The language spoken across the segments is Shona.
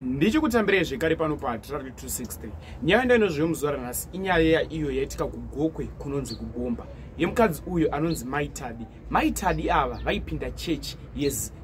ndichikutambirai zvekare pano patrari 260 nyaya ndainozviyo muzuva ranhasi inyaya yeya iyo yaitika kugokwe kunonzi kugomba yemukadzi uyu anonzi maitadi maitadi ava vaipinda chechi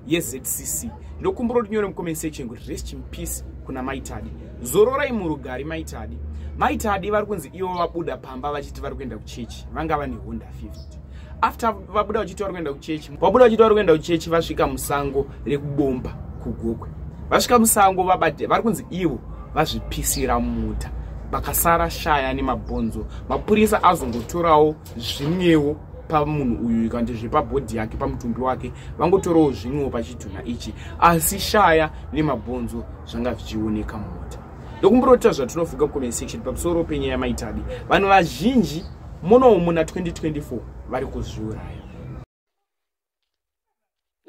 yezcc ndokumbura kuti nyore mucomment section kuti rest in peace kuna maitadi zororai murugari maitadi maitadi vari kunzi ivo vabuda pamba vachiti vari kuenda kuchechi vanga vane honda 50 after vabuda vachiti vari kuenda kuchechi vabuda vachiti vari kuenda kuchechi vasvika musango rekubomba kugokwe vasvika musango vabate vari kunzi ivo vazvipisira muta vakasara shaya nemabhonzo mapurisa azongotorawo zvimwewo pamunhu uyu ikanti zvepabhodhi yake pamutumbi wake vangotorawo zvimwewo pachitunha ichi asi shaya nemabhonzo zvanga zvichioneka mumota ndokumburota zvatinofunga mucomment section pamusoro penyaya maitabi vanhu vazhinji munowo muna 2024 vari kuzviuraya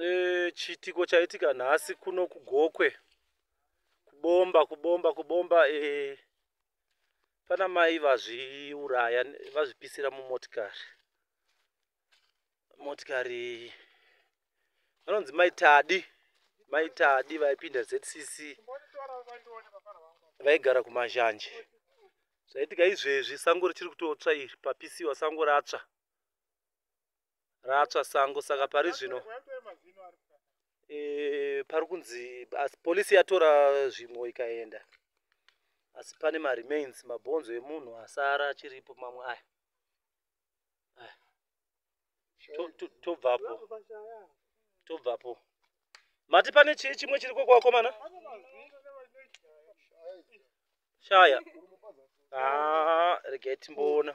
e, chiitiko chaitika nhasi kuno kugokwe kubomba kubomba kubomba e, pana mai vazviuraya vazvipisira mumotikari motikari vanonzi maitadi maitadi vaipinda zcc vaigara kumazhanje zvaitika izvezvi sango richiri kutotsva iri papisiwa sango ratsva ratsva sango saka pari zvino e, pari kunzi asi polisi yatora zvimwe ikaenda asi pane maremains mabhonzo emunhu asara achiripo mamwe aya tobvapo tobvapo mati pane chii chimwe chiri koko vakomana shaya ah, regai timboona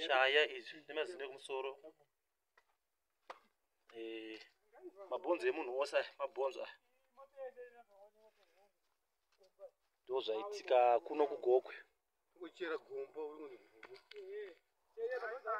shaya izvi nemazino ekumusoro eh, mabhonzo emunhu wose aya mabhonzo aya ndo zvaitika kuno kugokwe kuchera gomba